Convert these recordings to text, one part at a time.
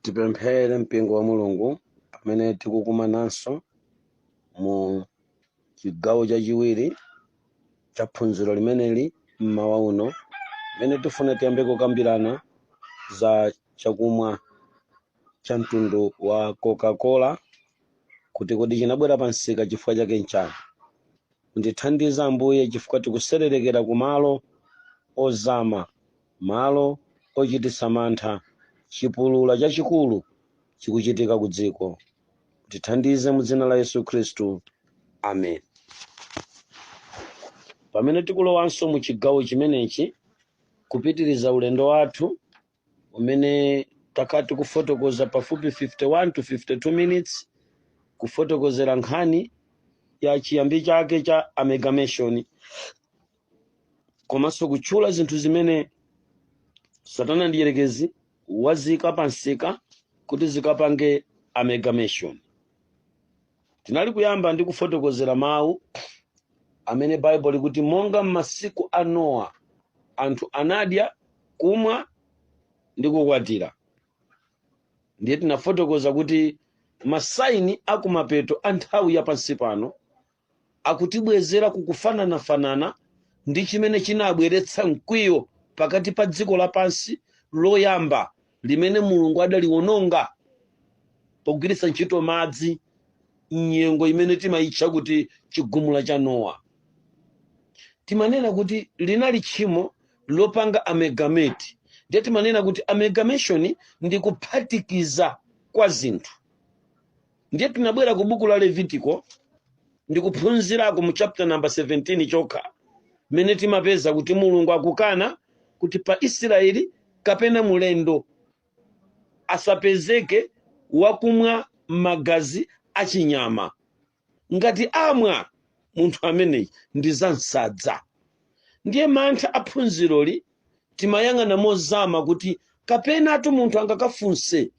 tipemphere mpingo wa mulungu pamene tikukumananso mu chigawo chachiwiri cha phunziro limeneli mmawa uno pamene tifuna tiyambe kukambirana za chakumwa cha mtundu wa coca-cola kuti kodi chinabwera pa msika chifukwa chake nchani Mundithandize Ambuye chifukwa tikutsetserekera ku malo ozama, malo ochititsa mantha, chipulula chachikulu chikuchitika ku dziko. Mutithandize mu dzina la Yesu Khristu. Amen. Pamene tikulowanso mu chigawo chimenechi, kupitiriza ulendo wathu, umene takhala tikufotokoza pafupi 51 to 52 minutes kufotokozera nkhani ya chiyambi chake cha amalgamation komanso kutchula zinthu zimene satana mdierekezi waziika pa msika kuti zikapange amalgamation Tinali kuyamba ndi kufotokozera mawu amene Baibulo likuti monga m'masiku a Nowa anthu anadya, kumwa ndi kukwatira. Ndiye tinafotokoza kuti masaini a kumapeto a nthawi ya pansi pano akutibwezera ku kufananafanana ndi chimene chinabweretsa mkwiyo pakati pa dziko lapansi loyamba limene Mulungu adaliwononga pogwiritsa ntchito madzi m'nyengo imene timayitcha kuti chigumula cha Nowa. Timanena kuti linali tchimo lopanga amalgamate, ndiye timanena kuti amalgamation ndi kuphatikiza kwa zinthu. ndiye tinabwera ku buku la levitiko ndikuphunzirako mu chapter number 17 chokha mmene timapeza kuti mulungu akukana kuti pa israeli kapena mulendo asapezeke wakumwa magazi achinyama ngati amwa munthu ameneyi ndidzamsadza ndiye mantha aphunziroli timayang'ana mozama kuti kapenatu munthu angakafunse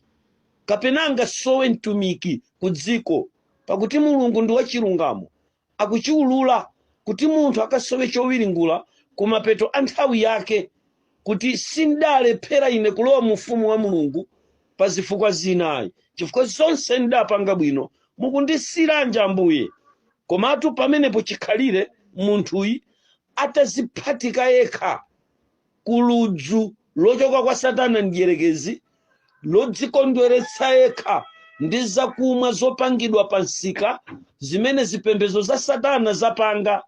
kapena angasowe mtumiki ku dziko pakuti mulungu ndi wachilungamo akuchiwulula kuti munthu akasowe chowiringula ku mapeto a nthawi yake kuti sindalephera ine kulowa mu ufumu wa mulungu pa zifukwa zinayi chifukwa zonse ndidapanga bwino mukundisiyiranji ambuye komatu pamenepo chikhalire munthuyi ataziphatika yekha ku ludzu lochoka kwa satana mdyerekezi lodzikondweretsa yekha ndi zakumwa zopangidwa pa msika zimene zipembedzo za satana zapanga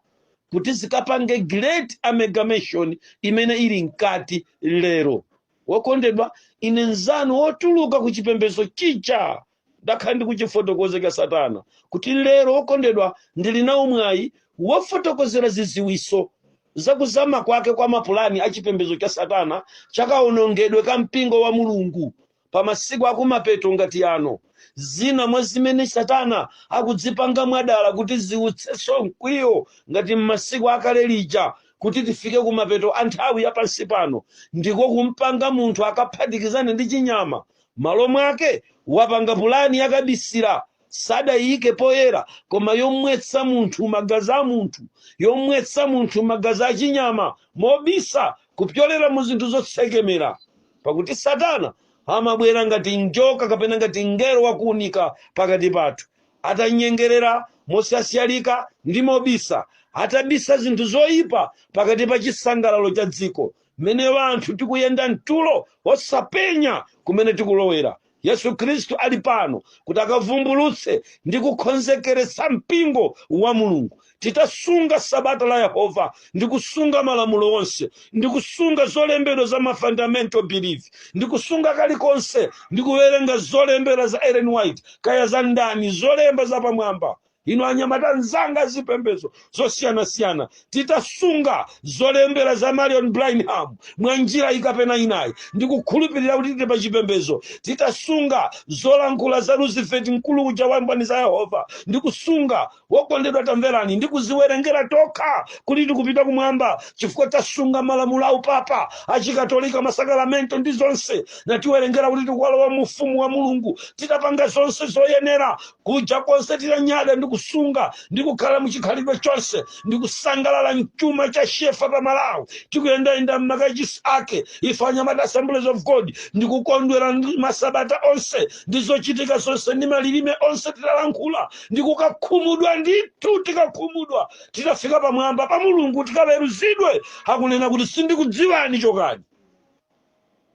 kuti zikapange great amalgamation imene ili mkati lero wokondedwa ine nzanu wotuluka ku chipembedzo chija ndakhala ndikuchifotokoza cha satana kuti lero wokondedwa ndili nawo mwayi wofotokozera ziziwiso zakuzama kwake kwa mapulani a chipembedzo cha satana chakawonongedwe ka mpingo wa mulungu pa masiku akumapeto ngati ano zina mwa zimene satana akudzipanga mwadala kuti ziutsenso mkwiyo ngati m'masiku akale lija kuti tifike kumapeto a nthawi ya pansi pano ndiko kumupanga munthu akaphatikizane ndi chinyama M'malo mwake, wapanga pulani ya kabisira, sadaiike poyera, koma yomwetsa munthu magazi a munthu, yomwetsa munthu magazi a chinyama mobisa kupyolera mu zinthu zotsekemera. Pakuti Satana amabwera ngati njoka kapena ngati mngelo wa kuunika pakati pathu, atanyengerera mosyasyalika ndi mobisa, atabisa zinthu zoipa pakati pa chisangalalo cha dziko mmene wanthu tikuyenda mtulo osapenya kumene tikulowera yesu khristu ali pano kuti akavumbulutse ndi kukonzekeretsa mpingo wa mulungu titasunga sabata la yehova ndi kusunga malamulo onse ndi kusunga zolembedwa za mafundamental belief ndi kusunga kalikonse ndi kuwerenga zolembera za ellen white kaya za ndani zolemba zapamwamba inu anyamata nzanga zipembedzo zosiyanasiyana titasunga zolembera za marion branham mwa njira ikapena inayi ndikukhulupirira kuti tili pa chipembedzo titasunga zolankhula za roosevelt mkulu uja wa mboni za yehova ndikusunga wokondedwa tamverani ndikuziwerengera tokha kuti tikupita kumwamba chifukwa tasunga malamulo a upapa achikatolika masakalamento ndi zonse natiwerengera kuti tikukalowa mu ufumu wa mulungu titapanga zonse zoyenera kuja konse titanyada ndi kusunga ndi kukhala muchikhalidwe chonse ndi kusangalala mchuma cha shefa pa malawi tikuyendayenda m'makachisi ake ife anyamata assemblies of god ndi kukondwera ndi masabata onse ndi zochitika zonse ndi malilime onse titalankhula ndi kukakhumudwa ndithu tikakhumudwa titafika pamwamba pa mulungu tikaweruzidwe akunena kuti sindikudziwani chokani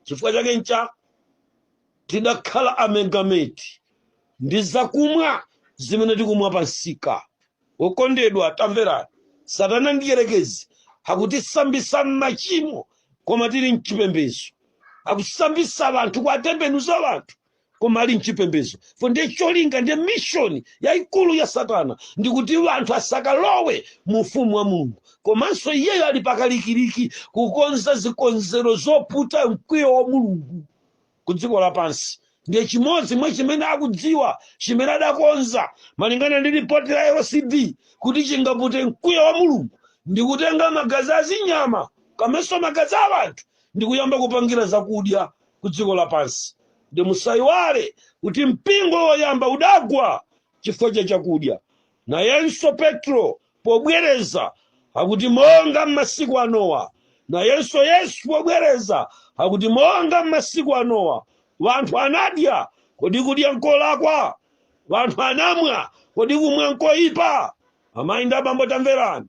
chifukwa chake ncha tidakhala amalgamate ndi zakumwa zimene tikumwa pa msika. Okondedwa, tamverani, Satana Mdyerekezi akutisambitsa m'machimo koma tili m'chipembedzo. Akusambitsa anthu, kuwatembenuza anthu koma ali m'chipembedzo. Fo ndiye cholinga ndiye mission yaikulu ya Satana ndi kuti anthu asakalowe mu ufumu wa Mulungu. Komanso iyeyo ali pakalikiliki kukonza zikonzero zoputa mkwiyo wa Mulungu. ku dziko lapansi ndiye chimodzi mwa chimene akudziwa chimene adakonza malingana ndi ripoti la lcd kuti chingapute mkwiyo wa mulungu ndi kutenga magazi a zinyama kamenso magazi a anthu ndi kuyamba kupangira zakudya ku dziko lapansi ndi musayiwale kuti mpingo woyamba udagwa chifukwa cha chakudya nayenso petro pobwereza akuti, Monga m'masiku a Nowa. Nayenso Yesu pobwereza akuti, Monga m'masiku a Nowa. Wanthu anadya, kodi kudya nkolakwa? Wanthu anamwa, kodi kumwa nkoipa? Amayi ndi abambo tamverani.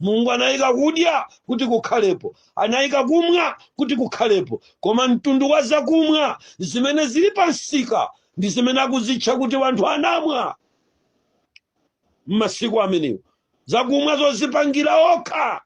Mulungu anayika kudya kuti kukhalepo, anayika kumwa kuti kukhalepo, koma mtundu wa zakumwa zimene zili pa msika ndi zimene akuzitcha kuti wanthu anamwa. m'masiku amenewo zakumwa zozipangira okha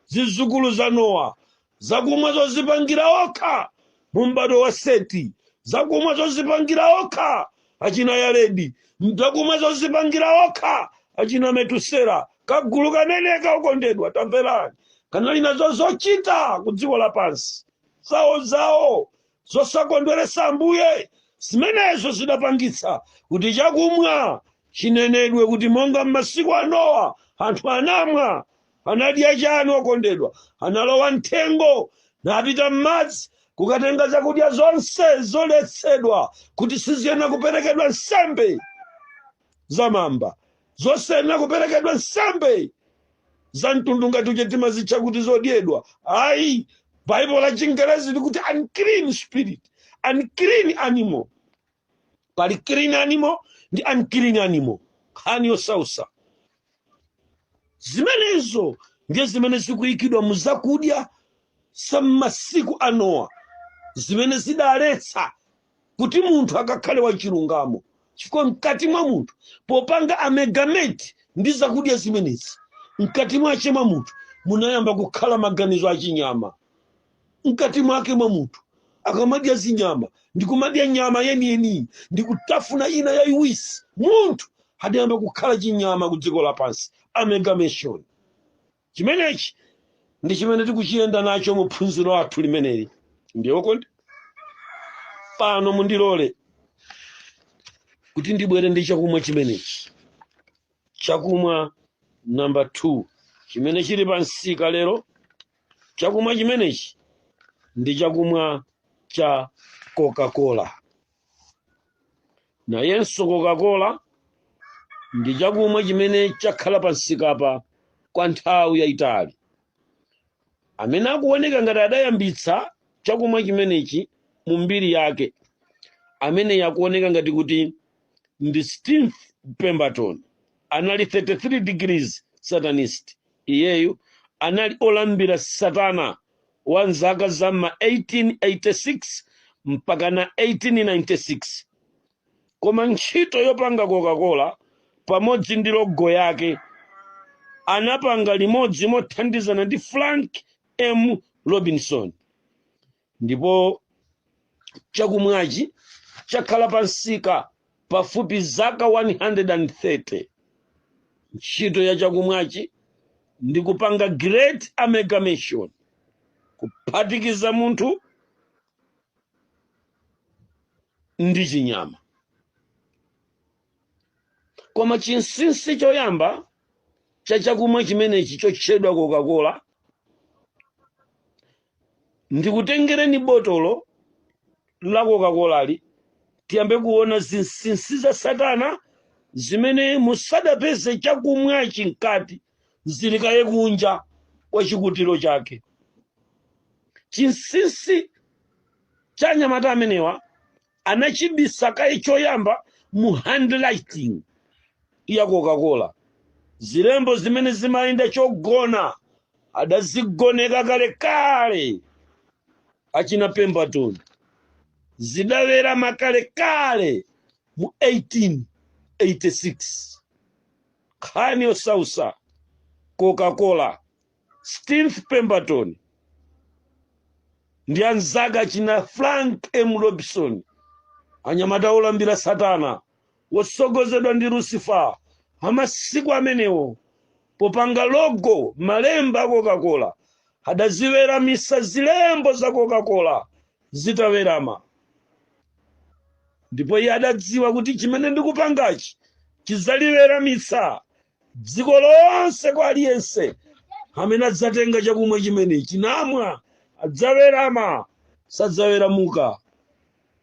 zizukulu za nowa zakumwa zozipangira okha mu m'bado wa seti zakumwa zozipangira okha achina yaredi zakumwa zozipangira okha achina metusera kagulu kameneka okondedwa tamverani kanali nazo zochita ku dziko lapansi zawo zawo zosakondweretsa Ambuye. Zimenezo zidapangitsa kuti chakumwa chinenedwe kuti monga m'masiku a Nowa anthu anamwa. Anadya chani okondedwa? Analowa m'thengo napita m'madzi kukatenga zakudya zonse zoletsedwa kuti siziyenera kuperekedwa nsembe. za mamba zosayenera kuperekedwa nsembe za mtundu ngati uje timazitcha kuti zodyedwa ayi baibulo la chingerezi likuti unclean spirit unclean animal pali clean animal ndi unclean animal nkhani yosausa zimenezo ndiye zimene zikuyikidwa mu zakudya za m'masiku a nowa zimene zidaletsa kuti munthu akakhale wachilungamo chifukwa mkati mwa munthu popanga amalgamate ndi zakudya zimenezi mkati mwache mwa munthu munayamba kukhala maganizo achinyama mkati mwake mwa munthu akamadya zinyama ndi kumadya nyama yeniyeniyi ndi kutafuna ina yayiwisi munthu adayamba kukhala chinyama ku dziko lapansi amalgamation Chimenechi ndi chimene tikuchiyenda nacho mu phunziro lathu limeneli. Ndiye okondedwa pano, mundilole kuti ndibwere ndi chakumwa chimenechi, chakumwa namba 2 chimene chili pa msika lero. Chakumwa chimenechi ndi chakumwa cha Coca-Cola. nayenso coca-cola ndi chakumwa chimene chakhala pamsikapa kwa nthawi yayitali amene akuoneka ngati adayambitsa chakumwa chimenechi mu mbiri yake ameneyi akuoneka ngati kuti ndi steve pemberton anali 33 degrees satanist Iyeyu anali olambira satana wa m'zaka za m'ma 1886 mpakana 1896. Koma ntchito yopanga Coca-Cola pamodzi ndi logo yake anapanga limodzi mothandizana ndi Frank M. Robinson. ndipo chakumwachi chakhala pa msika pafupi zaka 130 ntchito ya chakumwachi ndi kupanga great amalgamation kuphatikiza munthu ndi chinyama koma chinsinsi choyamba cha chakumwa chimenechi chotchedwa coca-cola ndikutengereni botolo la kokakolali tiyambe kuona zinsinsi za satana zimene musadapeze chakumwachi mkati zili kaye kunja kwa chikutiro chake chinsinsi cha anyamata amenewa anachibisa kaye choyamba mu handwriting ya Coca-Cola. Zilembo zimene zimayenda chogona adazigoneka kalekale achina Pemberton, zidawerama kalekale mu 1886. Nkhani yosausa Coca-Cola Steve Pemberton ndi anzake achina Frank M. Robinson, anyamata olambira Satana otsogozedwa ndi Lucifer amasiku amenewo, popanga logo malemba a Coca-Cola, adaziweramisa zilembo za Coca-Cola zitawerama. Ndipo iye adadziwa kuti chimene ndikupangachi chidzaliweramitsa dziko lonse kwa aliyense amene adzatenga chakumwa chimenechi namwa adzawerama sadzaweramuka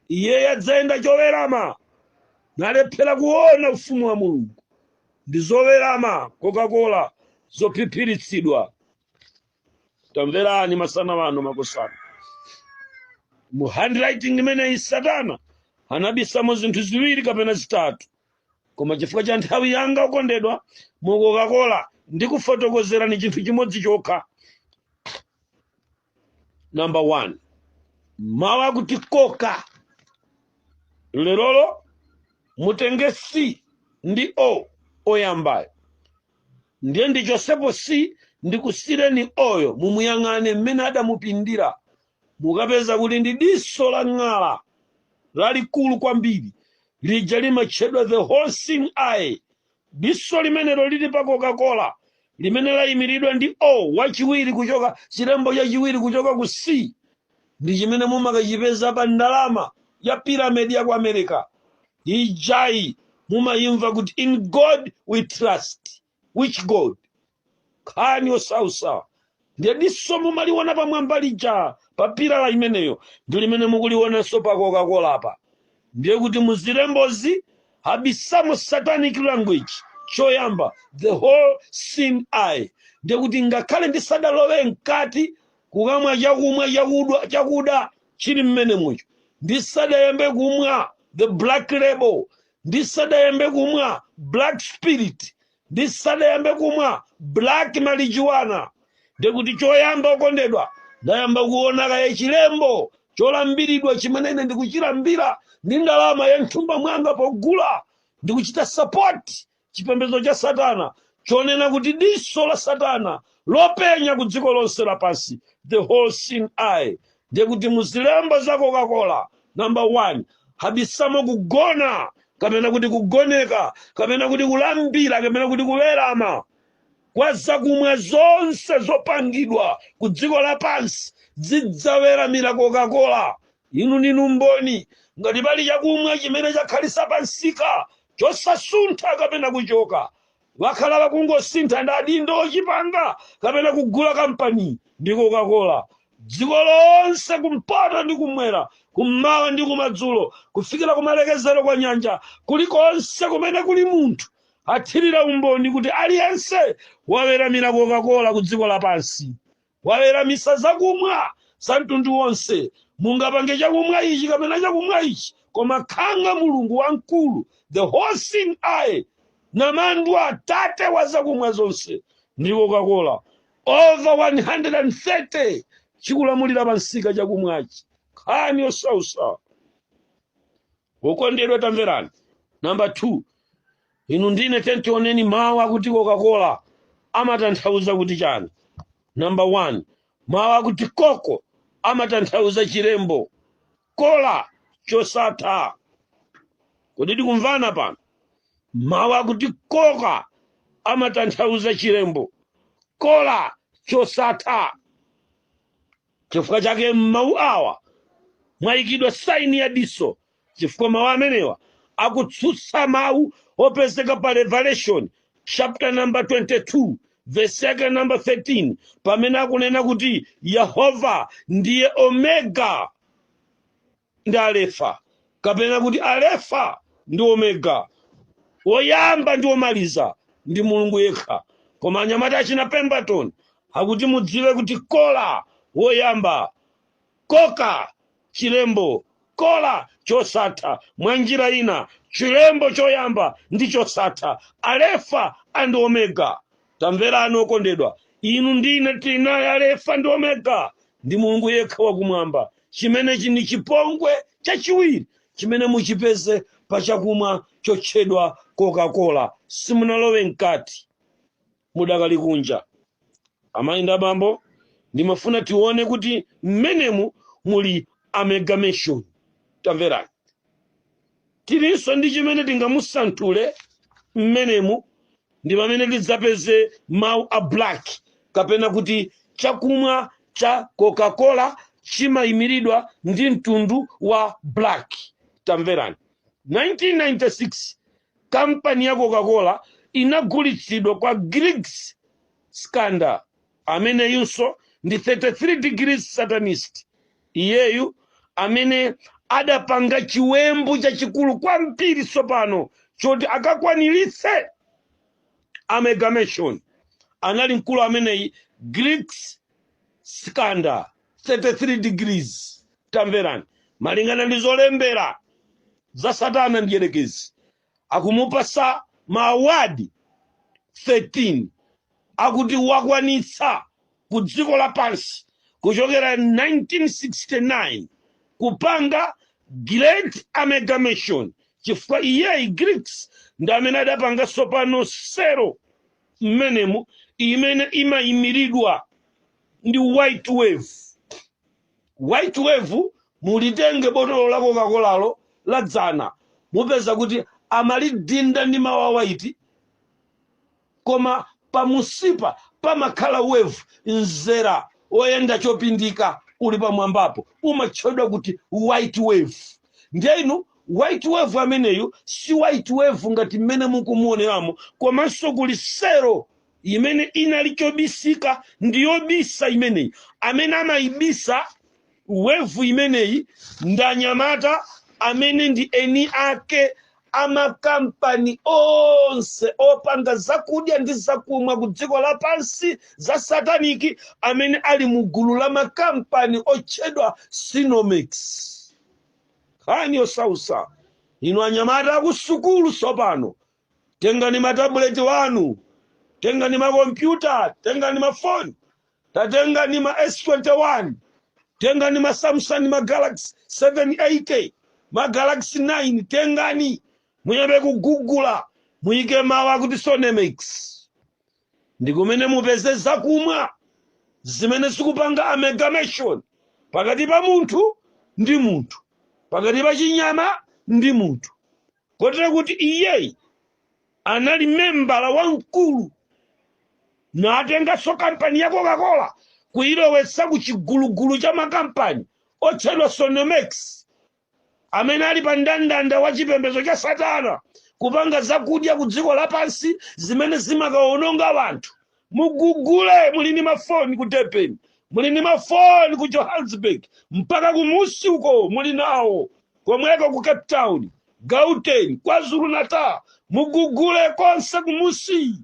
iye adzayenda chowerama nalephera kuona ufumu wa mulungu ndi zowerama coca-cola zophiphiritsidwa tamverani masana wano makosana mu handwriting imeneyi satana anabisamo zinthu ziwiri kapena zitatu koma chifukwa cha nthawi yanga okondedwa mu coca-cola ndikufotokozerani chinthu chimodzi chokha number one mawu akuti coca lerolo mutenge c ndi o oyambayo ndiye ndichotsepo c ndikusiyireni o-yo mumuyang'ane mmene adamupindira mukapeza kuti ndi diso la ng'ala lalikulu kwambiri lija limatchedwa the all seeing eye diso limenelo lili pa coca-cola limene layimiridwa ndi o wachiwiri kuchoka chilembo chachiwiri kuchoka ku c ndi chimene mumakachipeza pa ndalama ya piramidi ya ku america ijayi mumayimva kuti in god we trust which god nkhani yosautsa ndiye diso mumaliona pamwamba lija pa pyramid imeneyo ndi limene mukulionanso pa coca-cola pa ndiye kuti mu zilembozi abisamo satanic language choyamba the all seeing eye ndiye kuti ngakhale ndisadalowe mkati kukamwa chakumwa chakudwa chakuda chili m'menemucho ndisadayambe kumwa the black label ndisadayambe kumwa black spirit ndisadayambe kumwa black marijuana ndiye kuti choyamba okondedwa ndayamba kuona kaye chilembo cholambiridwa chimene ine ndikuchilambira ndi ndalama ya m'thumba mwanga pogula ndikuchita sapoti chipembedzo cha satana chonena kuti diso la satana lopenya ku dziko lonse lapansi the all seeing eye ndiye kuti mu zilembo za coca-cola number one abisamo kugona kapena kuti kugoneka kapena kuti kulambira kapena kuti kuwerama kwa zakumwa zonse zopangidwa ku dziko lapansi zidzaweramira coca-cola Inu ndinu mboni. Ngati pali chakumwa chimene chakhalitsa pamsika chosasuntha kapena kuchoka, akhala akungosintha ndi adindo ochipanga kapena kugula kampani ndi Coca-Cola. Dziko lonse kumpoto ndi kumwera, kummawa ndi kumadzulo, kufikira kumalekezero kwa nyanja, kulikonse kumene kuli munthu, athirira umboni kuti aliyense waweramira Coca-Cola kudziko lapansi. Waweramitsa zakumwa za mtundu wonse. Mungapange chakumwa ichi kapena chakumwa ichi, koma Khanga, Mulungu Wamkulu, the All-Seeing Eye, Namandwa, Tate wa zakumwa zonse, ndi Coca-Cola, over 130, chikulamulira pa msika chakumwachi. Nkhani yosausa. wokondedwa tamverani namba 2 inu ndi ine tiyeni tioneni mawu akuti kokakola amatanthauza kuti chani namba 1 mawu akuti koka amatanthauza chilembo kola chosatha kodi tikumvana pano mawu akuti koka amatanthauza chilembo kola chosatha Chifukwa chake m'mawu awa mwayikidwa saini ya diso, chifukwa mawu amenewa akutsutsa mawu opezeka pa Revelation chapter number 22 verse yake number 13 pamene akunena kuti Yehova ndiye Omega ndi Alefa, kapena kuti Alefa ndi Omega, woyamba ndi womaliza, ndi Mulungu yekha. Koma anyamata achina Pemberton akuti mudziwe kuti Kola woyamba, Koka chilembo, Kola chosatha, mwa njira ina chilembo choyamba ndi chosatha, Alefa and Omega. Tamverani okondedwa, inu ndi ine tinaye Alefa ndi Omega, ndi Mulungu yekha wa Kumwamba. Chimenechi ndi chipongwe chachiwiri chimene muchipeze pa chakumwa chotchedwa Kokakola. Simunalowe mkati. Mudakali kunja. Amayi ndi abambo, ndimafuna tione kuti mmenemu muli amalgamation. Tamverani. Tilinso ndi chimene tingamusanthule mmenemu ndi pamene tidzapeze mawu a black kapena kuti chakumwa cha Coca-Cola chimaimiridwa ndi mtundu wa black. Tamverani. 1996, Kampani ya Coca-Cola inagulitsidwa kwa Griggs Candler, ameneyunso ndi 33 degrees Satanist. iyeyu amene adapanga chiwembu chachikulu kwambiri tsopano choti akakwaniritse amalgamation anali mkulu ameneyi Griggs Candler 33 degrees tamverani malingana ndi zolembera za satana mdyerekezi akumupasa ma award 13 akuti wakwanitsa ku dziko lapansi kuchokera 1969 kupanga great amalgamation chifukwa iyeyi Griggs ndi amene adapanga tsopano sero mmenemo imene imayimiridwa ndi white wave White wave mulitenge botolo la kokakolalo la dzana mupeza kuti amalidinda ndi mau a white koma pamusipa pamakhala wave mzera oyenda chopindika uli pamwambapo umatchedwa kuti white wave ndiye inu white wave ameneyu si white wave ngati mmene mukumuoneramo komanso kuli sero imene inali chobisika ndi yobisa imeneyi amene amayibisa wave imeneyi ndanyamata amene ndi eni ake amakampani onse opanga zakudya ndi zakumwa ku dziko lapansi za sataniki amene ali mu gulu la makampani otchedwa Senomyx nkhani yosausa inu anyamata akusukulu tsopano Tengani matabuleti wanu, tengani makompyuta, tengani mafoni, tatengani ma S21, tengani ma Samsung, ma Galaxy 780, ma Galaxy 9, tengani muyambe kugugula, muyike mawu akuti Sonemex ndi kumene mupeze zakumwa zimene zikupanga amalgamation pakati pa munthu ndi munthu, pakati pa chinyama ndi munthu. kotero kuti iyeyi anali membala wamkulu natenganso kampani ya coca-cola kuyilowetsa ku chigulugulu cha makampani otchedwa sonomex amene ali pa ndandanda wa chipembedzo cha satana kupanga zakudya ku dziko lapansi zimene zimakawononga anthu mugugule muli ndi mafoni ku durban muli ndi mafoni ku johannesburg mpaka kumusi uko muli nawo komweko ku cape town gauteng kwazulu natal mugugule konse kumusi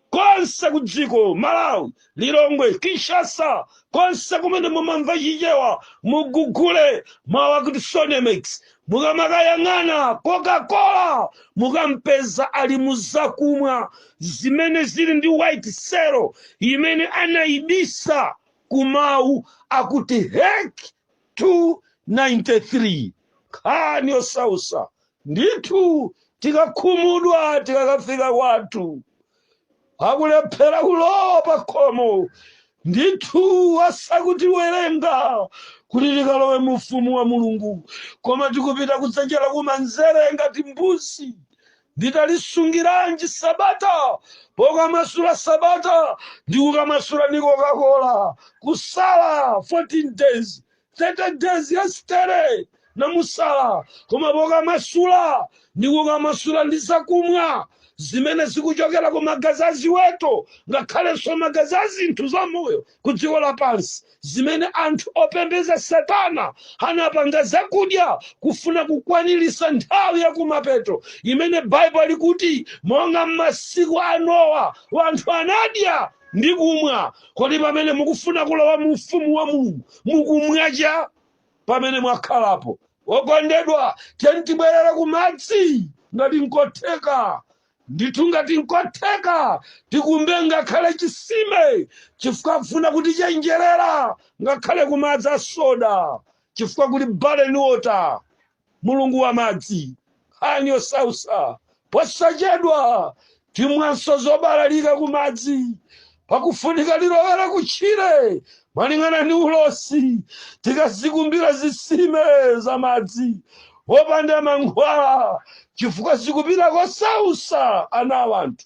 konse ku dziko malawi lilongwe kinshasa konse kumene mumamva chichewa mugugule mawu akuti sonemex Mukamakayang'ana Coca-Cola mukampeza ali mu zakumwa zimene zili ndi white sero imene anaibisa ku mawu akuti HEK 293. Nkhani yosausa ndithu tikakhumudwa tikakafika kwathu. akulephera kulowa pa khomo ndithu asakutiwerenga kuti tikalowe mu ufumu wa mulungu koma tikupita kudzanja lakumanzere ngati mbuzi nditalisungiranji sabata pokamasula sabata ndikukamasula ndi Coca-Cola kusala 14 days 30 days yesterday namusala koma pokamasula ndi kukamasula ndi zakumwa zimene zikuchokera ku magazi a ziweto ngakhalenso magazi a zinthu za moyo ku dziko lapansi zimene anthu opembeza satana anapanga zakudya kufuna kukwanirisa nthawi yakumapeto imene baibulo likuti monga m'masiku a nowa wanthu anadya ndi kumwa kodi pamene mukufuna kulowa mu ufumu wa mulungu mukumwacha pamene mwakhalapo okondedwa tiyeni tibwerere ku madzi ngati nkotheka ndithu ngati nkotheka tikumbe ngakhale chisime chifukwa kufuna kutichenjerera ngakhale kumadzi a soda chifukwa kuli baleni water Mulungu wa madzi, nkhani yosausa, posachedwa timwanso zobalalika ku madzi pakufunika tilowere ku tchire malingana ndi ulosi tikazikumbira zisime za madzi opanda mankhwala chifukwa zikupita kosausa ana awanthu.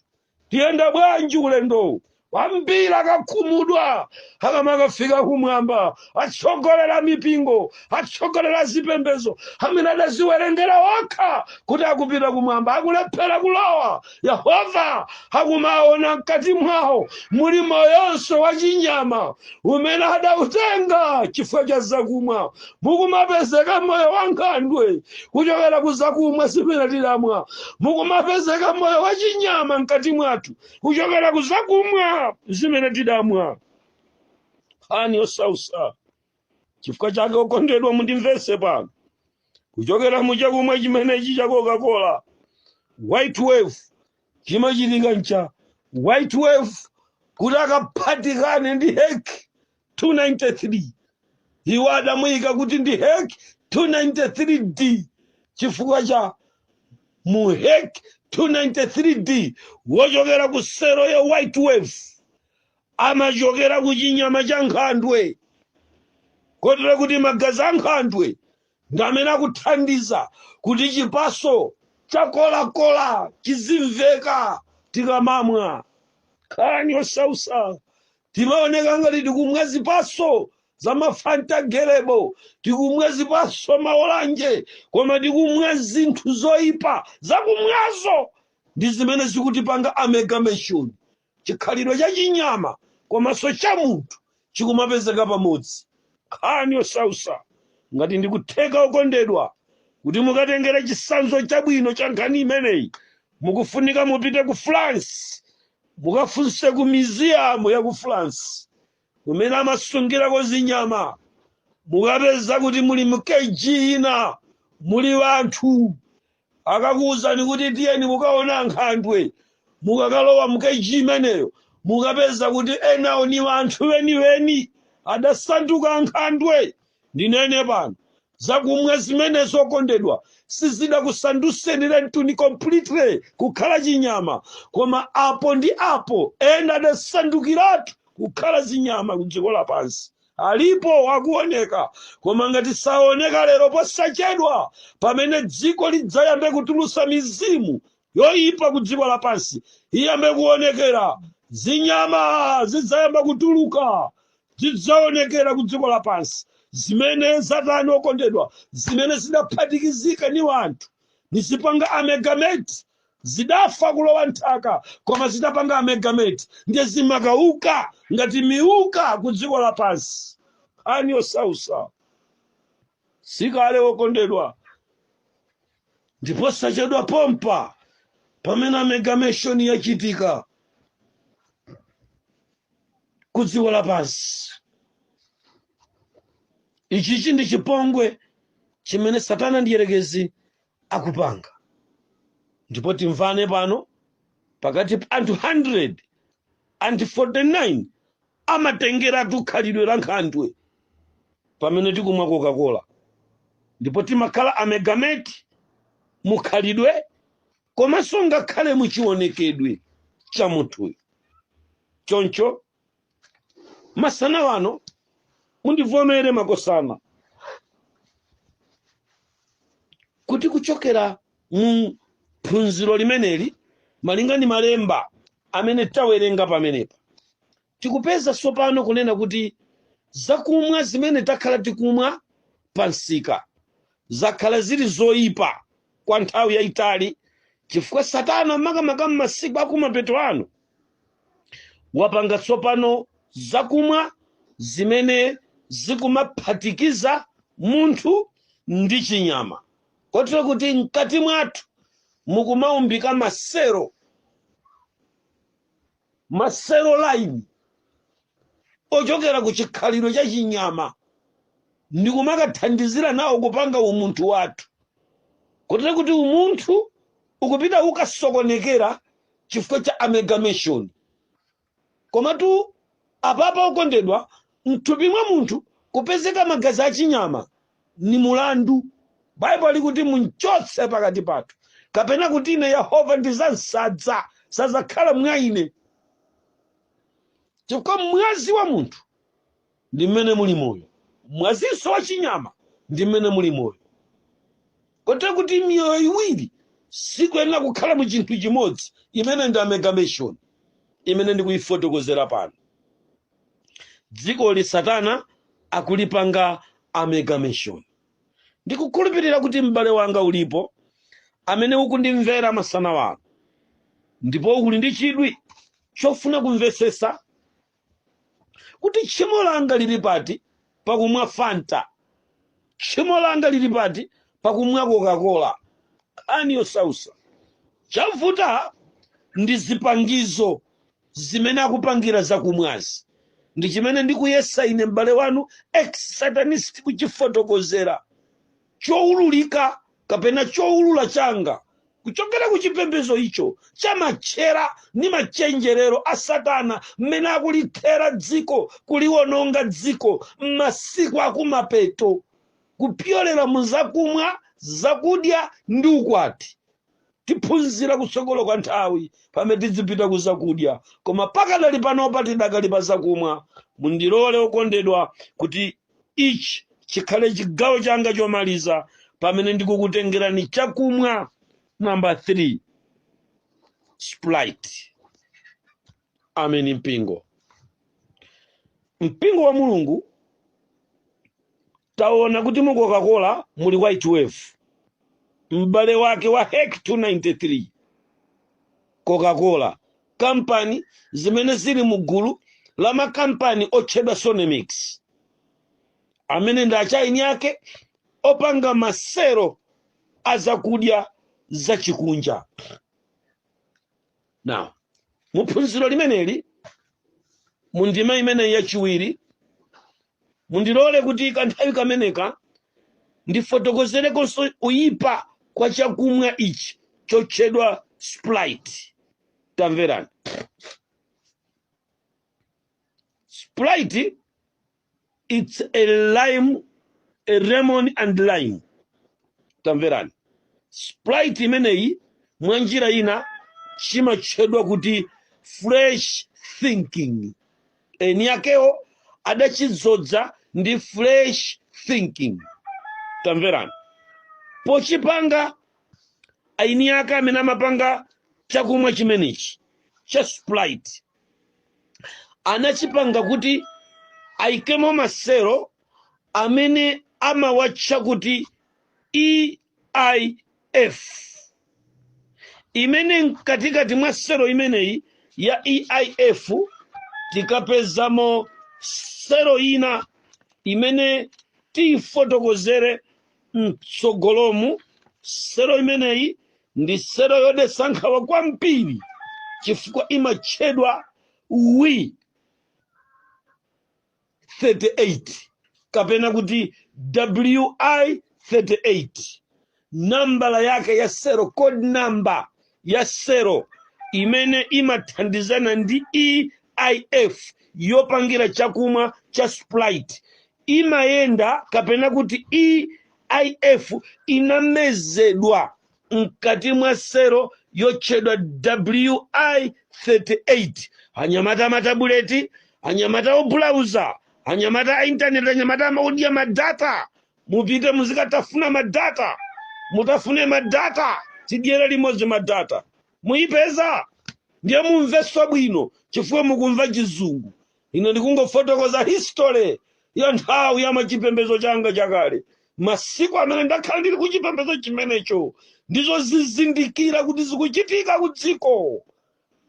Tiyenda bwanji ulendowu? Ambiri akakhumudwa akamakafika kumwamba. Atsogoleri a mipingo, atsogoleri a zipembezo amene adaziwerengera okha kuti akupita kumwamba akulephera kulowa, Yehova akumaona mkati mwawo muli moyonso wa chinyama umene adautenga chifukwa cha zakumwa. mukumapezeka moyo wa nkhandwe kuchokera ku zakumwa zimene tidamwa mukumapezeka moyo wa chinyama mkati mwathu kuchokera ku zakumwa zimene tidamwa nkhani yosausa chifukwa chake okondedwa mundimvese pano kuchokera mu chakumwa chimenechi cha coca-cola white wave chimachitika ncha white wave kuti akaphatikane ndi heki 293 iwo adamuyika kuti ndi hek 293d chifukwa cha mu hek 293d wochokera ku sero ya white wave amachokera ku chinyama cha nkhandwe kotero kuti magazi a nkhandwe ndi amene akuthandiza kuti chipaso cha Coca-Cola chizimveka tikamamwa nkhani yosausa Timaoneka ngati tikumwa zipaso za ma Fanta grape, tikumwa zipaso ma olanje, koma tikumwa zinthu zoipa. Zakumwazo ndi zimene zikutipanga amalgamation, chikhalidwe cha chinyama komanso cha munthu chikumapezeka pamodzi. Nkhani yosausa. Ngati ndikutheka okondedwa, kuti mukatengere chisanzo chabwino cha nkhani imeneyi, mukufunika mupite ku France Mukafunse ku museum ya ku France mumene amasungirako zinyama, mukapeza kuti muli mu cage ina muli wanthu. Akakuuzani kuti tiyeni mukaone ankhandwe, mukakalowa mu cage imeneyo mukapeza kuti enawo ni wanthu weni-weni adasanduka ankhandwe. Ndinene pano, zakumwa zimenezi okondedwa, sizidakusanduseni lentuni completely kukhala chinyama, koma apo ndi apo ena adasandukiratu kukhala zinyama kudziko lapansi. Alipo akuoneka, koma ngati saoneka lero, posachedwa pamene dziko lidzayambe kutulusa mizimu yoipa ku dziko lapansi iyambe kuonekera zinyama zidzayamba kutuluka zidzaonekera ku dziko lapansi zimene zatani okondedwa zimene zidaphatikizika ni wanthu nizipanga amalgamate zidafa kulowa nthaka koma zitapanga amalgamate ndiye zimakawuka ngati miuka ku dziko lapansi nkhani yosausa si kale okondedwa ndi posachedwa pompa pamene amalgamation yachitika ku dziko lapansi ichichi ndi chipongwe chimene satana mdyerekezi akupanga ndipo timvane pano pakati pa anthu 149 amatengeratu khalidwe la nkhandwe pamene tikumwa Coca-Cola ndipo timakhala amalgamate mukhalidwe komanso ngakhale muchiwonekedwe cha munthuyo choncho masana wano mundivomere makosana kuti kuchokera Mu phunziro limeneli, malinga ndi malemba amene tawerenga pamenepa, tikupeza tsopano kunena kuti zakumwa zimene takhala tikumwa pa msika zakhala zili zoipa kwa nthawi yayitali chifukwa Satana makamaka m'masiku akumapeto ano wapanga tsopano zakumwa zimene zikumaphatikiza munthu ndi chinyama. kotero kuti mkati mwathu mukumaumbika maselo maselo aline ochokera ku chikhalidwe cha chinyama ndi kumakathandizira nawo kupanga umunthu wathu kotero kuti umunthu ukupita ukasokonekera chifukwa cha amalgamation Komatu apapa okondedwa, m'thupi mwa munthu kupezeka magazi a chinyama ni mulandu. Baibulo likuti, Mumchotse pakati pathu, kapena kuti ine Yehova ndizam'sadza, sadzakhala mwa ine, chifukwa mwazi wa munthu. ndi mmene muli moyo mwazinso wa chinyama ndi mmene muli moyo kotero kuti miyoyo iwiri sikuyenera kukhala mu chinthu chimodzi imene ndi amalgamation imene ndikuyifotokozera pano dzikoli satana akulipanga amalgamation ndikukhulupirira kuti m'bale wanga ulipo amene ukundimvera masana wano ndipo uli ndi chidwi chofuna kumvesesa kuti tchimo langa lili pati pakumwa fanta tchimo langa lili pati pakumwa kokakola nkhani yosausa chavuta ndi zipangizo zimene akupangira zakumwazi ndi chimene ndikuyesa ine m'bale wanu ex satanist kuchifotokozera choululika kapena choulula changa kuchokera ku chipembedzo icho cha matchera ndi machenjerero a satana mmene akulithera dziko kuliwononga dziko m'masiku akumapeto kupyolera mu zakumwa zakudya ndi ukwati Tiphunzira kutsogolo kwa nthawi pamene tidzipita ku zakudya, koma pakadali panopa tidakali pa zakumwa. Mundilole, okondedwa, kuti ichi chikhale chigawo changa chomaliza pamene ndikukutengerani chakumwa namba 3, Sprite. ameni mpingo mpingo wa mulungu taona kuti mu coca-cola muli white wave m'bale wake wa hek 293 coca-cola kampani zimene zili mu gulu la makampani otchedwa sonemix amene ndi achaini ake opanga masero a zakudya zachikunja now mu phunziro limeneli mu ndime imeneyi yachiwiri mundilole kuti kanthawi kameneka ndifotokozerekonso kuyipa kwa chakumwa ichi chotchedwa sprite tamverani sprite it's a lime a lemon and lime tamverani sprite imeneyi mwa njira ina chimatchedwa kuti fresh thinking eni akewo adachizodza ndi fresh thinking tamverani pochipanga eni ake amene amapanga chakumwa chimenechi cha sprite anachipanga kuti aikemo maselo amene amawatcha kuti eif imene mkatikati mwa selo imeneyi ya eif tikapezamo selo ina imene tiyifotokozere mtsogolomu selo imeneyi ndi selo yodetsa nkhawa kwambiri chifukwa imatchedwa wi 38 kapena kuti wi 38 nambala yake ya selo code number ya selo imene imathandizana ndi eif yopangira chakumwa cha sprite imayenda kapena kuti EIF inamezedwa mkati mwa selo yotchedwa WI38. Anyamata amatabuleti, anyamata obulawuza, anyamata a intaneti, anyamata odya madata. Mupite muzikatafuna madata, mutafune madata, tidyere limodzi madata. Muyipeza ndiye mumvenso bwino chifukwa mukumva chizungu. ine ndikungofotokoza history ya nthawi ya mchipembezo changa chakale masiku amene ndakhala ndili ku chipembezo chimenecho ndi kuzizindikira kuti zikuchitika ku dziko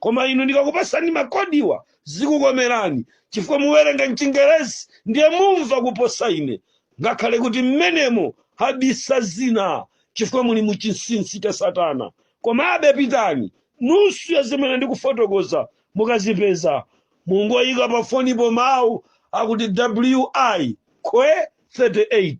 koma inu ndikakupasani makodiwa zikukomerani chifukwa muwerenga mchingerezi ndiye mumva kuposa ine ngakhale kuti mmenemo habisa zina chifukwa muli mu chinsinsi cha satana komabe pitani nusu ya zimene ndikufotokoza mukazipeza Mungoyika pa fonipo mawu akuti WI khwe 38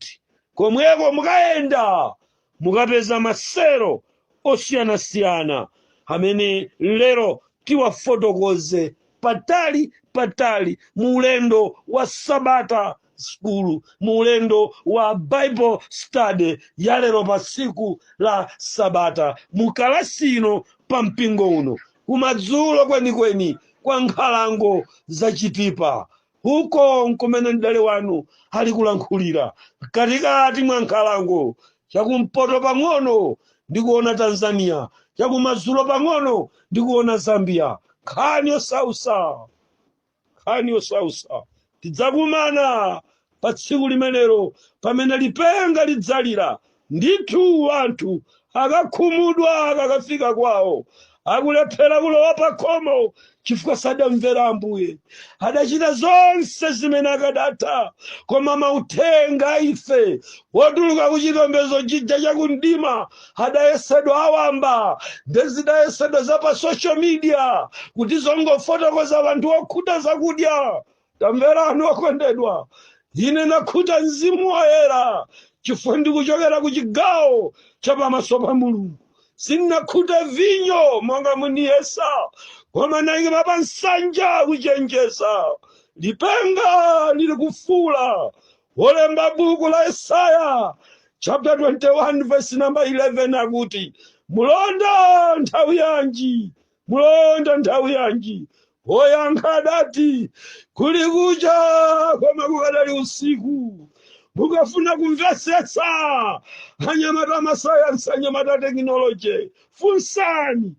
komweko mukayenda mukapeza maselo osiyanasiyana amene lero tiwafotokoze patali patali mu ulendo wa sabata school mu ulendo wa bible study ya lero pa tsiku la sabata mu kalasi ino pa mpingo uno kumadzulo kwenikweni kwa nkhalango za Chitipa. Uko nkumene m'bale wanu ali kulankhulira, mkatikati mwa nkhalango, chakumpoto pang'ono ndikuona Tanzania, chakumadzulo pang'ono ndikuona Zambia. Nkhani yosausa! nkhani yosausa tidzakumana pa tsiku limenelo pamene lipenga lidzalira ndithu anthu akakhumudwa akakafika kwawo akulephera kulowa pakhomo chifukwa sadamvera ambuye adachita zonse zimene akadatha koma mauthenga a ife wotuluka ku chipembedzo chija chakumdima adayesedwa awamba nde zidayesedwa za pa social media kuti zongofotokoza anthu okhuta zakudya tamverani okondedwa ine nakhuta mzimu woyera chifukwa ndikuchokera ku chigawo cha pamaso pa mulungu sindinakhuta vinyo monga muniyesa koma naima pa nsanja kuchenjeza lipenga lili kufuula Wolemba buku la Yesaya chapter 21 verse number 11 akuti mulonda nthawi yanji mulonda nthawi yanji woyankha adati kuli kucha koma kukadali usiku mukafuna kumvetsetsa anyamata amasayansi anyamata tekinoloje funsani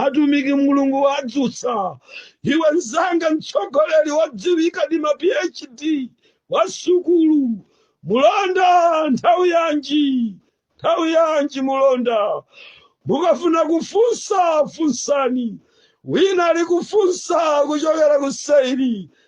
atumiki mulungu wadzutsa iwe mzanga mtsogoleri wodziwika ndi ma phd wa sukulu mulonda nthawi yanji nthawi yanji mulonda mukafuna kufunsa funsani wina ali kufunsa kuchokera ku seiri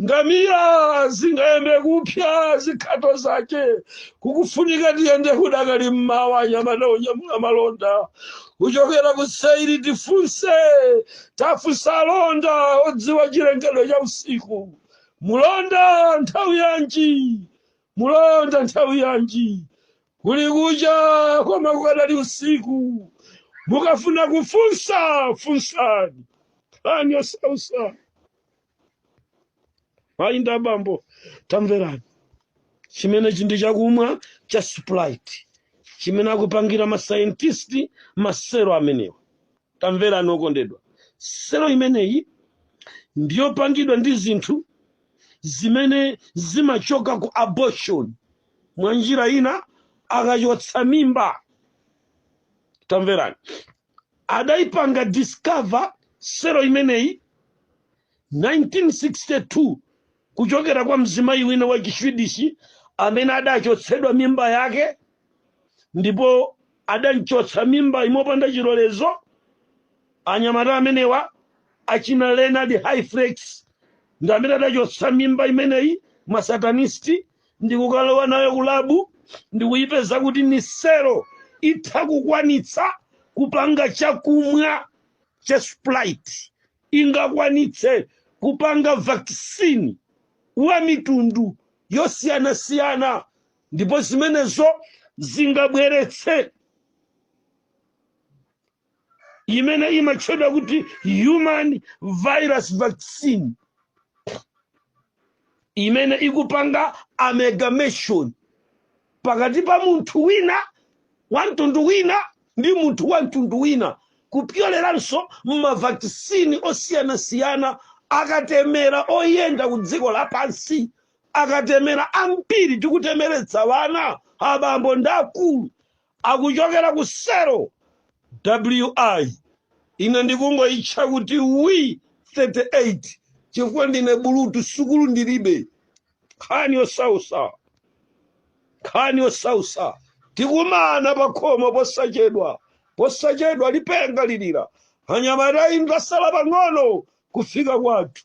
ngamira zingayambe kupya zikhato zake kukufunika tiyende kudakali mmawa anyamata onyamula malonda kuchokera ku seiri tifunse tafunsa alonda odziwa chilengedwe cha usiku mulonda nthawi yanji mulonda nthawi yanji kuli kucha koma kukadali usiku mukafuna kufunsa funsani nkhani yosausa mayi ndi abambo tamverani chimenechi ndi chakumwa cha sprite chimene akupangira masaintisti maselo amenewa tamverani okondedwa selo imeneyi ndiyopangidwa ndi zinthu zimene zimachoka ku abortion mwa njira ina akachotsa mimba tamverani adaipanga discover selo imeneyi 1962 kuchokera kwa mzimayi wina wa chiswidishi amene adachotsedwa mimba yake ndipo adamchotsa mimbayi mopanda chilolezo anyamata amenewa achina leonard hayflick ndi amene adachotsa mimba imeneyi masatanisti ndikukalowa nayo kulabu ndikuyipeza kuti ni selo itha kukwanitsa kupanga chakumwa cha sprite ingakwanitse kupanga vakisini wa mitundu yosiyanasiyana ndipo zimenezo zingabweretse imene imatchedwa kuti human virus vaccine imene ikupanga amalgamation pakati pa munthu wina wa mtundu wina ndi munthu wa mtundu wina kupyoleranso m'mavakisini osiyanasiyana akatemera oyenda ku dziko lapansi akatemera ambiri tikutemeretsa wana abambo ndi akulu akuchokera ku selo wi ine ndikungoitcha kuti wi 38 chifukwa ndine bulutu sukulu ndilibe nkhani yosausa nkhani yosausa tikumana pakhomo posachedwa posachedwa lipenga lilira anyamata ndasala pang'ono kufika kwathu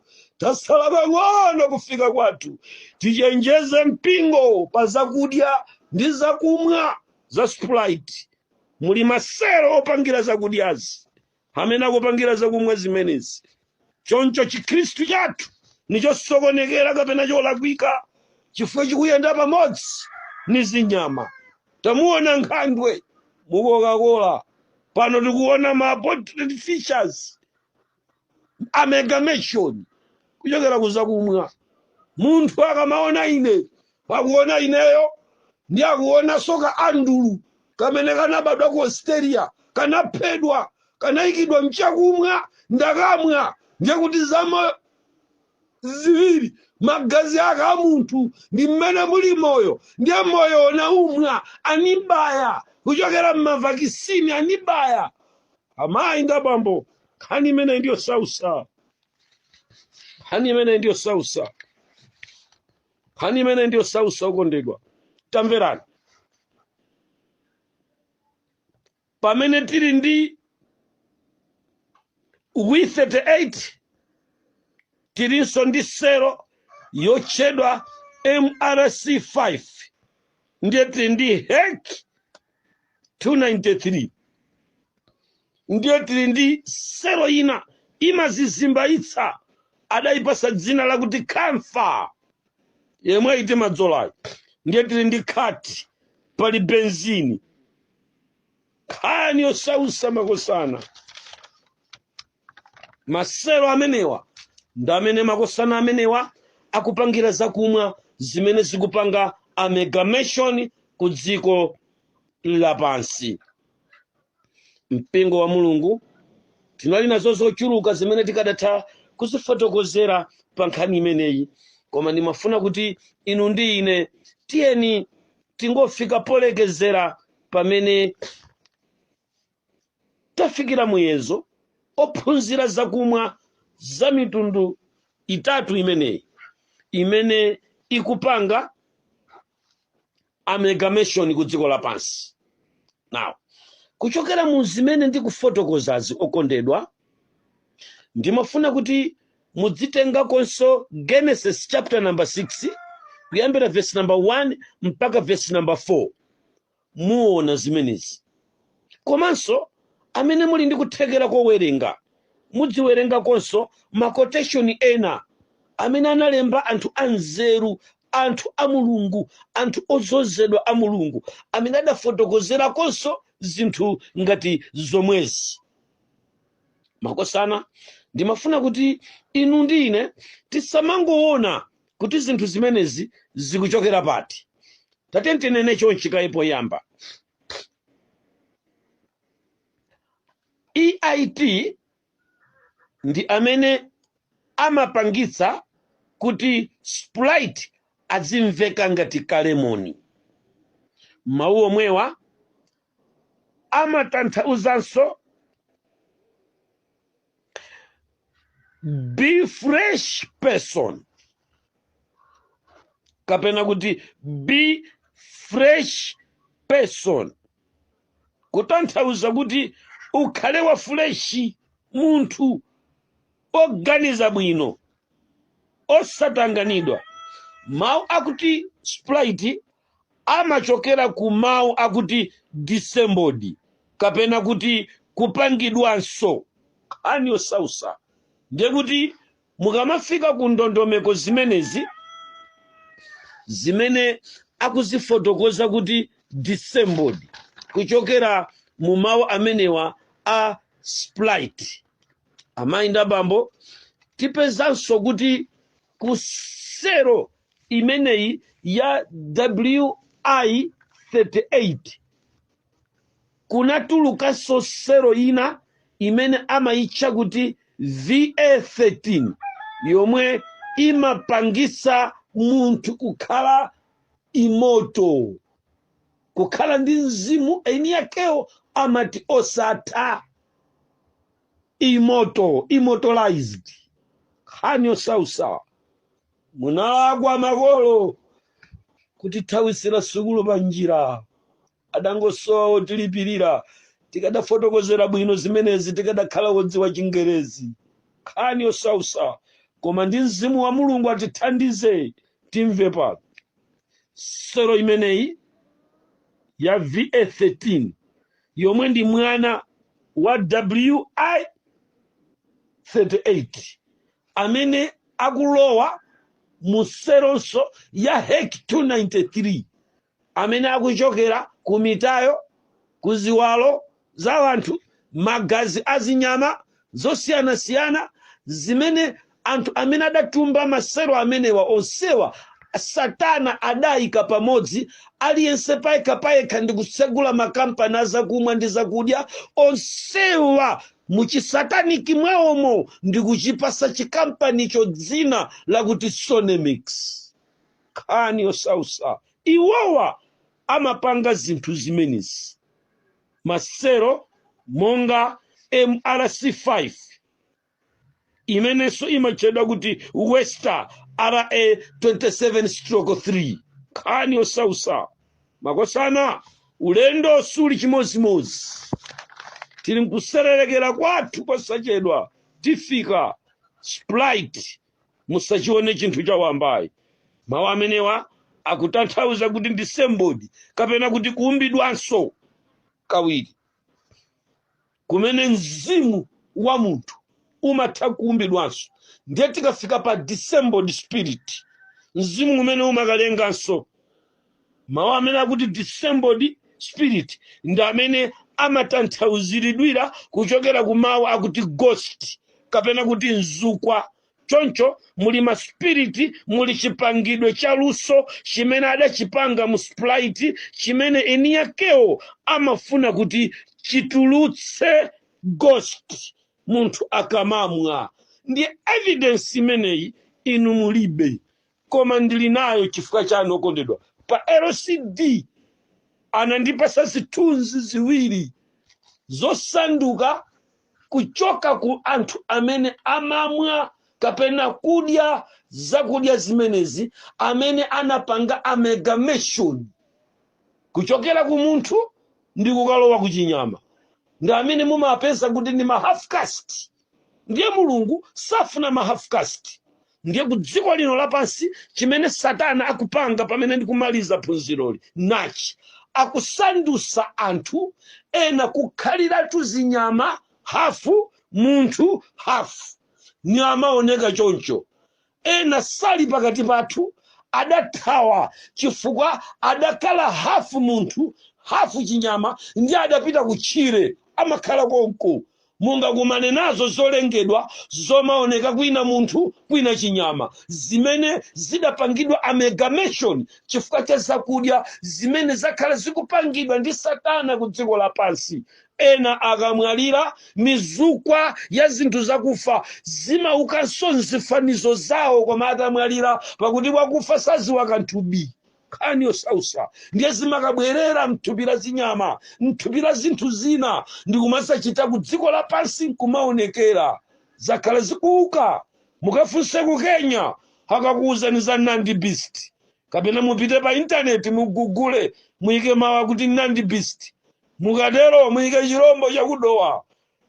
tasala pang'ono kufika kwathu tichenjeze mpingo pa zakudya ndi zakumwa za sprite muli masero opangira zakudyazi amene akupangira zakumwa zimenezi choncho chikhristu chathu nichosokonekera kapena cholakwika chifukwa chikuyenda pamodzi ni zinyama tamuona nkhandwe mukokakola pano tikuona ma portrait features amalgamation kuchokera kuzakumwa munthu akamaona ine akuona ineyo ndi akuonaso ka andrew kamene kanabadwa ku australia kanaphedwa kanayikidwa mchakumwa ndakamwa ndiye kuti zamoyo ziwiri magazi ake a munthu ndi mmene muli moyo ndiye moyo unaumwa anibaya kuchokera mmavakisini anibaya amayi ndi abambo nkhani imeneyi ndi yosausa nkhani imeneyi ndi yosausa nkhani imeneyi ndi yosausa okondedwa tamverani pamene tili ndi wi 38 tilinso ndi selo yotchedwa mrc 5 ndiye tili ndi hek 293 ndiye tili ndi selo ina imazizimbaitsa adayipasa dzina lakuti camphor yemweyi timadzolayo ndiye tili ndi khati pali benzini nkhani yosausa makosana maselo amenewa ndi amene makosana amenewa akupangira zakumwa zimene zikupanga amalgamation ku dziko lapansi mpingo wa mulungu tinali nazo zochuluka zimene tikadatha kuzifotokozera pa nkhani imeneyi koma ndimafuna kuti inu ndi ine tiyeni tingofika polekezera pamene tafikira muyezo ophunzira zakumwa za mitundu itatu imeneyi imene ikupanga amalgamation ku dziko lapansi now kuchokera mu zimene ndikufotokozazi okondedwa ndimafuna kuti mudzitengakonso genesis chapter number 6 kuyambira verse number 1 mpaka verse number 4 muona zimenezi. Komanso, amene muli ndi kuthekera kowerenga, mudziwerengakonso makoteshoni ena amene analemba anthu anzeru, anthu a Mulungu, anthu odzozedwa a Mulungu, amene adafotokozerakonso zinthu ngati zomwezi. Makosana, ndimafuna kuti inu ndi ine tisamangoona kuti zinthu zimenezi zikuchokera pati tatiyeni tinene chonchi kaye poyamba eit ndi amene amapangitsa kuti sprite azimveka ngati kalemoni mawu omwewa amatanthauzanso be fresh person kapena kuti be fresh person kutanthauza kuti ukhale wa fresh munthu oganiza bwino osatanganidwa mawu akuti sprite amachokera ku mawu akuti disembodied, kapena kuti kupangidwanso. Nkhani yosausa ndiye kuti mukamafika ku ndondomeko zimenezi zimene akuzifotokoza kuti disembodied kuchokera mu mawu amenewa a sprite, amayi ndi abambo, tipezanso kuti ku selo imeneyi ya wi 38 kunatulukanso selo ina imene amayitcha kuti va13 yomwe imapangisa munthu kukhala immortal kukhala ndi mzimu eni yakewo amati osatha immortal immortalized nkhani yosausa munalakwa makolo kutithawisira sukulu pa njira adangosowa otilipirira tikadafotokozera bwino zimenezi tikadakhala wodziwa chingerezi nkhani yosausa koma ndi mzimu wa mulungu atithandize timve pa selo imeneyi ya va 13 yomwe ndi mwana wa wi 38 amene akulowa mu selonso ya hek 293 amene akuchokera ku mitayo ku ziwalo za anthu magazi a zinyama zosiyanasiyana zimene anthu amene adatumba maselo amenewa onsewa satana adayika pamodzi aliyense payekha payekha ndi kutsegula makampani azakumwa ndi zakudya onsewa muchisataniki mwawomo ndi kuchipasa chikampanicho dzina lakuti sonemix nkhani yosausa iwowa amapanga zinthu zimenezi maselo monga MRC5 imenenso imatchedwa kuti Wistar RA27-3 nkhani yosausa makosana ulendo siuli chimodzimodzi tili mkusererekera kwathu posachedwa tifika sprite musachione chinthu chawambayi mawu amenewa akutanthauza kuti disembodied kapena kuti kuumbidwanso kawiri kumene mzimu wa munthu umatha kuumbidwanso ndiye tikafika pa disembodied spirit mzimu umene umakalenganso mawu amene akuti disembodied spirit ndi amene amatanthauziridwira kuchokera ku mawu akuti ghost kapena kuti mzukwa choncho muli maspiriti muli chipangidwe cha luso chimene adachipanga mu sprite chimene eni yakewo amafuna kuti chitulutse ghost munthu akamamwa ndiye evidence imeneyi inu mulibe koma ndili nayo chifukwa chanu okondedwa pa lcd anandipasa zithunzi ziwiri zosanduka kuchoka ku anthu amene amamwa kapena kudya zakudya zimenezi amene anapanga amalgamation kuchokera ku munthu ndi kukalowa ku chinyama ndi amene mumapeza kuti ndi ma half caste ndiye mulungu safuna ma half caste ndiye ku dziko lino lapansi chimene satana akupanga pamene ndikumaliza phunziroli nachi akusandusa anthu ena kukhaliratu zinyama hafu munthu hafu ni amaoneka choncho Ena sali pakati pathu, adathawa chifukwa adakhala hafu munthu hafu chinyama ndiye adapita kutchire, amakhala konko. Mungakumane nazo zolengedwa zomaoneka kwina munthu kwina chinyama zimene zidapangidwa amalgamation chifukwa cha zakudya zimene zakhala zikupangidwa ndi satana kudziko lapansi. Ena akamwalira, mizukwa ya zinthu zakufa zimaukanso m'zifanizo zawo koma atamwalira, pakuti wakufa sadziwa kanthu bi. Nkhani yosautsa. Ndiye zimakabwerera m'thupi la zinyama, m'thupi la zinthu zina, ndi kumadzachita ku dziko lapansi n'kumaonekera. Zakhala zikuuka. Mukafunse ku Kenya, akakuuzani za Nandi beast. Kapena mupite pa intaneti mugugule, muike mawu kuti Nandi beast. Mukatero muyike chirombo cha ku Dowa.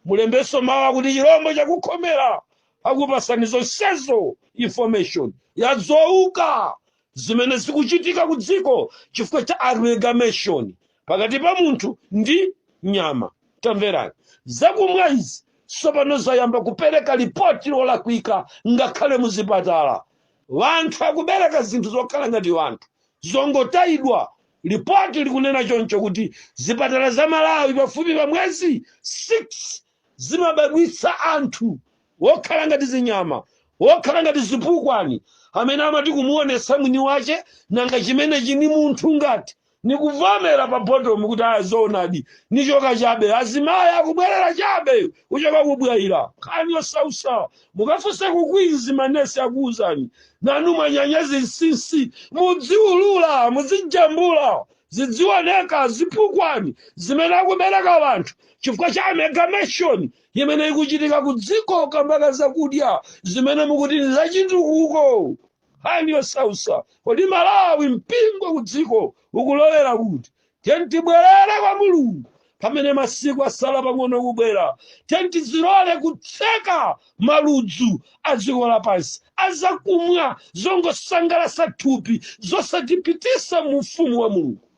Mulembenso mawu akuti chirombo cha ku Khomera. Akupasani zonsezo information ya zouka zimene zikuchitika ku dziko chifukwa cha amalgamation pakati pa munthu ndi nyama. Tamverani, zakumwa izi tsopano zayamba kupereka lipoti lolakwika ngakhale mu zipatala. Wanthu akubereka zinthu zokhala ngati wanthu, zongotayidwa Lipoti likunena choncho kuti zipatala za Malawi pafupi pa mwezi 6 zimabadwitsa anthu wokhala ngati zinyama, wokhala ngati zipukwani amene amati kumuonetsa mwini wache nanga chimenechi ni munthu ngati? Nikuvomera pa bottom kuti aya zoonadi, nichoka chabe, azimai akubwerera chabe! kuchoka ku bwaila nkhani yosausa mukafunse ku queens manesi akuwuzani nanu mwanyanya zinsinsi mudziulula muzijambula zidziwoneka zipukwani zimene akubereka wanthu chifukwa cha amalgamation imene ikuchitika ku dziko kamba ka zakudya zimene mukuti ndi zachitukuko nkhani yosausa kodi malawi mpingo ku dziko ukulowera kuti Tiyeni tibwerere kwa Mulungu pamene masiku asala pang'ono kubwera. Tiyeni tizilole kutseka maludzu a dziko lapansi a zakumwa zongosangalatsa thupi zosatipititsa mu Ufumu wa Mulungu.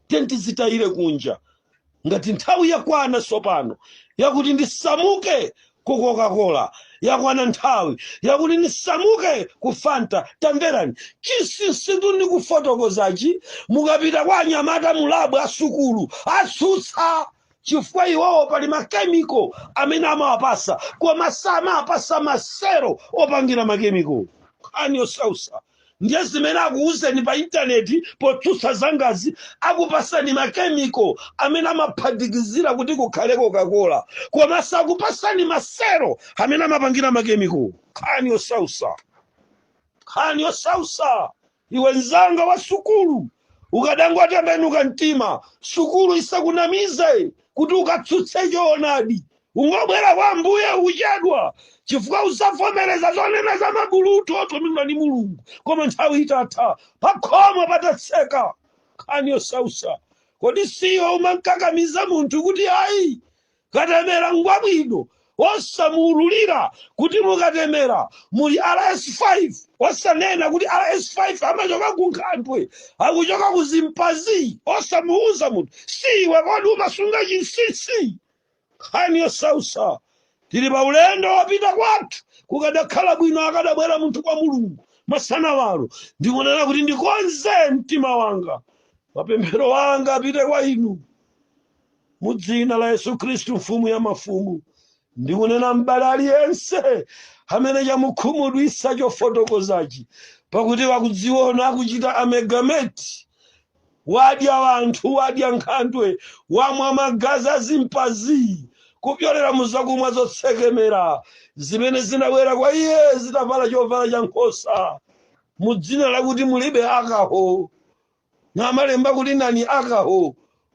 Tiyeni tizitayire kunja ngati nthawi yakwana tsopano yakuti ndisamuke ku coca-cola yakwana nthawi yakuti ndisamuke ku fanta tamverani chinsinsitu ndi kufotokozachi mukapita kwa anyamata mulabu asukulu atsutsa chifukwa iwowo pali makemiko amene amawapasa koma samawapasa maselo opangira makemiko nkhani yosausa ndiye zimene akuwuzeni pa intaneti potsutsa zangazi akupasani makemiko amene amaphatikizira kuti kukhale kokakola koma sakupasani maselo amene amapangira makemiko nkhani yosausa nkhani yosausa iwe nzanga wa sukulu ukadangotembenuka mtima sukulu isakunamize kuti ukatsutse choonadi Ungobwera kwa Ambuye, ukuchedwa, chifukwa udzavomereza zonena za mabulutu otumidwa ndi Mulungu. Koma nthawi itatha, pakhomo patatseka, nkhani yosausa. Kodi siwe umankakamiza munthu kuti ayi, katemera ngwabwino, osamuululira kuti mu katemera muli RS5, osanena kuti RS5 amachoka ku nkhandwe, akuchoka ku chimpanzi, osamuuza munthu, siwe kodi umasunga chinsinsi? nkhani yosausa tili pa ulendo wopita kwathu kukadakhala bwino akadabwera munthu kwa mulungu masanawano ndikunena kuti ndikonze mtima wanga mapemphero anga apite kwa inu mu dzina la yesu khristu mfumu ya mafumu ndikunena m'bale aliyense amene chamukhumudwitsa chofotokozachi pakuti wakudziona akuchita amegameti Wadya anthu, wadya nkhandwe, wamwa magazi a chimpanzi, kupyolera mu zakumwa zotsekemera zimene zinabwera kwa iye zitavala chovala cha nkhosa, mu dzina lakuti mulibe alcohol, namalemba kuti non alcohol,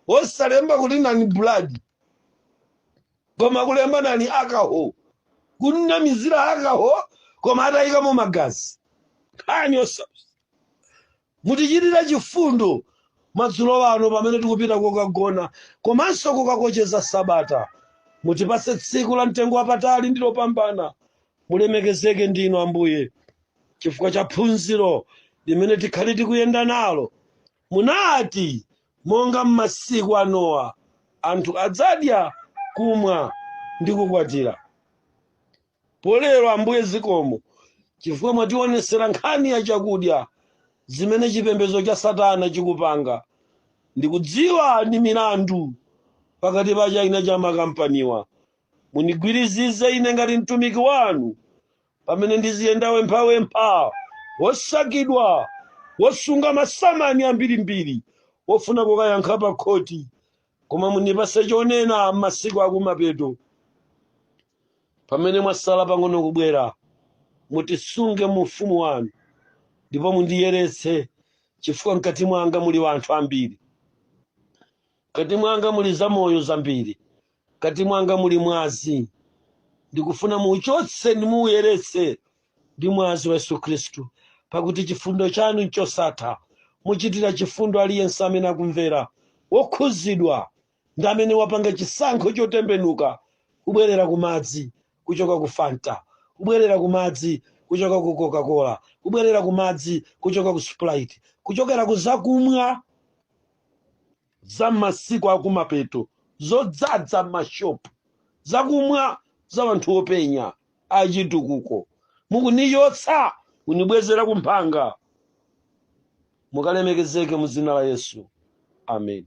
osalemba kuti non blood, koma kulemba non alcohol, kunamizira alcohol koma atayikamo magazi. Nkhani yosa. Mutichitire chifundo madzulo ano pamene tikupita kokagona komanso kukakocheza sabata. Mutipatse tsiku la mtengo wapatali ndi lopambana. Mulemekezeke ndinu Ambuye chifukwa cha phunziro limene tikhale tikuyenda nalo. Munati, monga m'masiku a Nowa, anthu adzadya, kumwa ndi kukwatira. Pa lero Ambuye zikomo chifukwa mwationesera nkhani ya chakudya zimene chipembedzo cha satana chikupanga ndikudziwa ndi milandu pakati pa china cha makampaniwa mundigwirizize ine ngati mtumiki wanu pamene ndiziyenda wemphawempha wosakidwa wosunga masamani ambirimbiri wofuna kukayankha pa khoti koma mundipase chonena m'masiku akumapeto pamene mwasala pang'ono kubwera mutisunge mu ufumu wanu ndipo mundiyeretse chifukwa mkati mwanga muli wanthu ambiri mkati mwanga muli zamoyo zambiri mkati mwanga muli mwazi ndikufuna muuchotse ndi muuyeretse ndi mwazi wa yesu khristu pakuti chifundo chanu nchosatha muchitira chifundo aliyense amene akumvera wokhuzidwa ndi amene wapanga chisankho chotembenuka kubwerera ku madzi kuchoka ku fanta kubwerera ku madzi kuchoka ku coca-cola kubwerera ku madzi kuchoka ku sprite kuchokera ku zakumwa za m'masiku akumapeto zodzadza m'mashopu zakumwa za wanthu openya achitukuko mukunichotsa kunibwezera kumphanga mukalemekezeke muzina la yesu amen